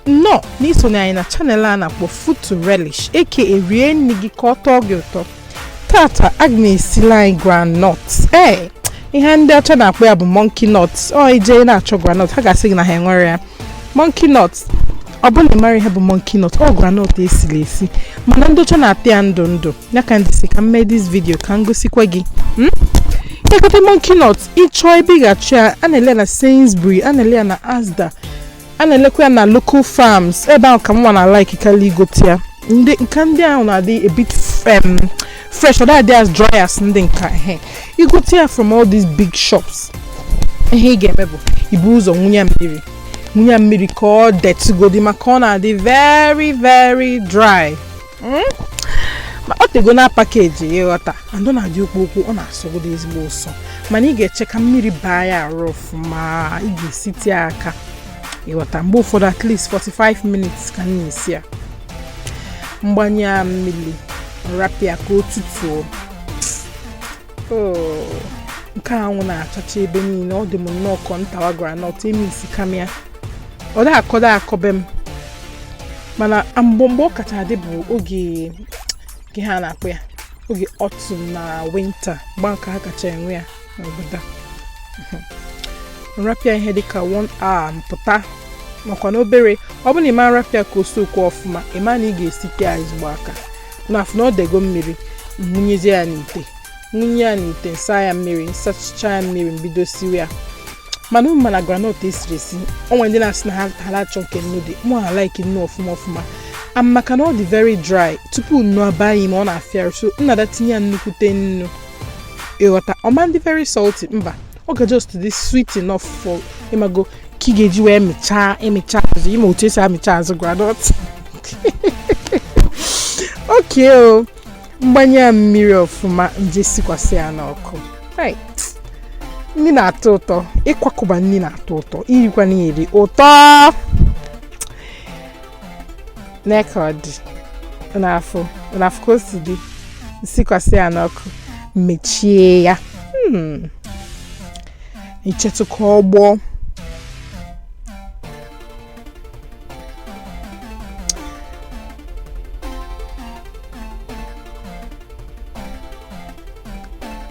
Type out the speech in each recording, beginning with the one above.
nnọọ n'isonye anyị na channel a na-akpọ Food to Relish aka rie nri gị ka ọ tọọ gị ụtọ tata aga m esili anyị groundnut ee ihe ndị ọcha na-akpọ ya bụ monkey nut ọ ije na-achọ groundnut ha ga-asị gị na ha enwerọ ya monkey nut ọ bụ na ịmara ihe bụ monkey nut ọ groundnut esiri esi mana ndị ọcha na-ata ya ndụ ndụ ya ka m ji sị ka m mee this video ka m gosikwa gị igote hmm? monkey nut ịchọọ ebe ị ga-achọ ya a na-ele ya na Sainsbury a na-ele ya na Asda a na-elekwa ya na local farms ebe ahụ ka mụwa na like kalị igote ya maka ndị ahụ na-adị a bit um, fresh ọ da-adị as dry as ndị nke ehe igote ya from all these big shops ihe ị ga-eme bụ ibu ụzọ wunye ya mmiri wunye ya mmiri ka ọ detụgodi maka ọ na-adị very very dry hmm? ma ọ tego na package ịghọta and ọ na-adị okpo okpo ọ na-asọgodo ezigbo ụsọ mana ị ga-eche ka mmiri baa ya arụ ọfụma ị ga-esite ya aka ịghọta mgbe ụfọdụ at least 45 minutes ka m na-esi ya m gbanye ya mmiri rapụ ya ka o tutuo oh, nke anwụ na-achacha ebe niile ọ dị m nnọọ ka m tawa groundnut emissika m ya ọ da-akọ da-akọ be m mana mgbe mgbe ọ kacha adị bụ oge nke ha na-akpọ ya oge autumn na winter mgbe a ka ha kacha enwe ya n'obodo m rapụ ya ihe dịka 1 hour m pụta makwa na obere ọ bụrụ na ị ma rapụ ya ka o soakuo ọfụma ị ma na ị ga-esite ya ezigbo aka m afụ na ọ dego mmiri m wunyezie ya n'ite m wunye ya n'ite m saa ya mmiri m sachaa ya mmiri m bido siwe ya mana unu ma na groundnut esiri esi o nwe ndị na-asị na ha ada achọ nke nnu dị mụwa na like nnu ọfụma ọfụma and maka na ọ dị very dry tupu nnu abaa ime ya ọ na-afịa arụ so m na-adị etinye ya nnukwute nnu ịghọta ọ ma-adị very salty mba ọ ga just dị sweet enough for ịmago ka ị ga-eji wee mịchaa ịmịcha azụ ịma otu esi amịcha azụ groundnut okay m gbanye ya mmiri ọfụma m je sikwasị ya n'ọkụ nri na-atọ ụtọ ịkwakọba nri na-atọ ụtọ irikwa nri ụtọ nee ka ọ dị na-afụ ka o si dị m sikwasị ya n'ọkụ mechie ya hmm. m chetụ ka ọ gbọọ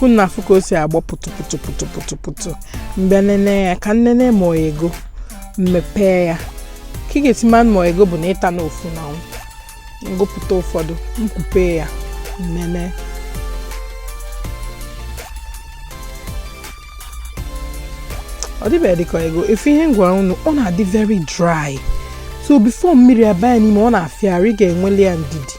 unu afụ ka o si agbọ pụtụpụtụpụtụpụtụpụtụ mgbe nene ya ka m nene ma o yego m mepee ya ka ị ga-esi ma ma o yego bụ na ị ta na ofu na m gụpụta ụfọdụ m kwupe ya m nene ọ dịbeghị dịka o yego ị fụ ihe m gwa unu ọ na-adị very dry so before mmiri abanye n'ime ọ na-afịa arụ ị ga-enweli ya ndidi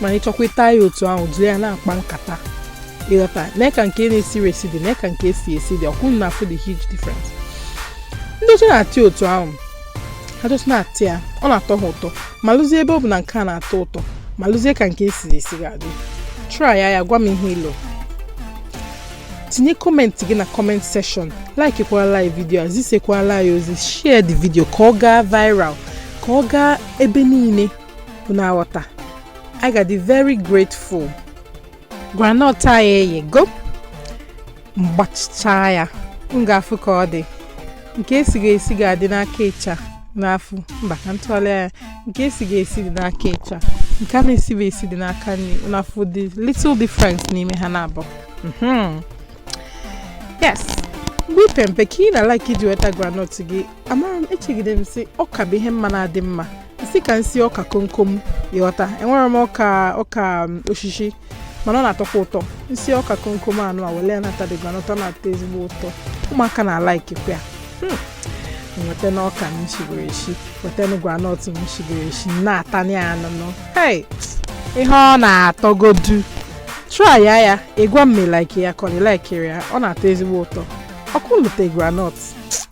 mana ịchọkwa ịta ya otu ahụ jiri ya na-akpa nkata ịghọta nee ka nke na-esiri esi dị nee ka nke esighị esi dị ọkwa unu afụ the huge difference ndị ọcha na-ata ya otu ahụ ha just na-ata ya ọ na-atọ ha ụtọ malụzie ebe ọ bụ na nke a na-atọ ụtọ malụzie ka nke esiri esi ga-adị try ya ị gwa m ihe i lo tinye comment gị na comment section likekwala anyị video a zisekwala anyị ozi share the video ka ọ gaa viral ka ọ gaa ebe niile unu aghọta anyị ga-adị very grateful groundnut anyị eyego m gbachicha ya m ga-afụ ka ọ dị nke esighị esi ga-adị n'aka ịcha unu afụ mba ka m tụgharịa ya nke esighị esi dị n'aka ịcha nke a na-esighị esi dị n'aka nri unu afụ the little difference n'ime ha naabọ mhm. yes mgbe ị pe mpe ka ị na-alike iji weta groundnut gị amara m echegide m sị ọka bụ ihe m ma na-adị mma isi ka m sie ọka komkom ịghọta enwere m ọka ọka um, osisi mana ọ na-atọkwa ụtọ m sie ọka komkom anụ a wele ya na-ata the groundnut ọ na-atọ ezigbo ụtọ ụmụaka na-alikekwa ya hmm. m weta na ọka m shigoro eshi weta na groundnut m shigoro eshi na-ata ya anụnụ hei ihe ọ na-atọgodu try ya ị gwa m ma ị like ya ka ọ na ị likerọ ya ọ na-atọ ezigbo ụtọ ọkụ lute groundnut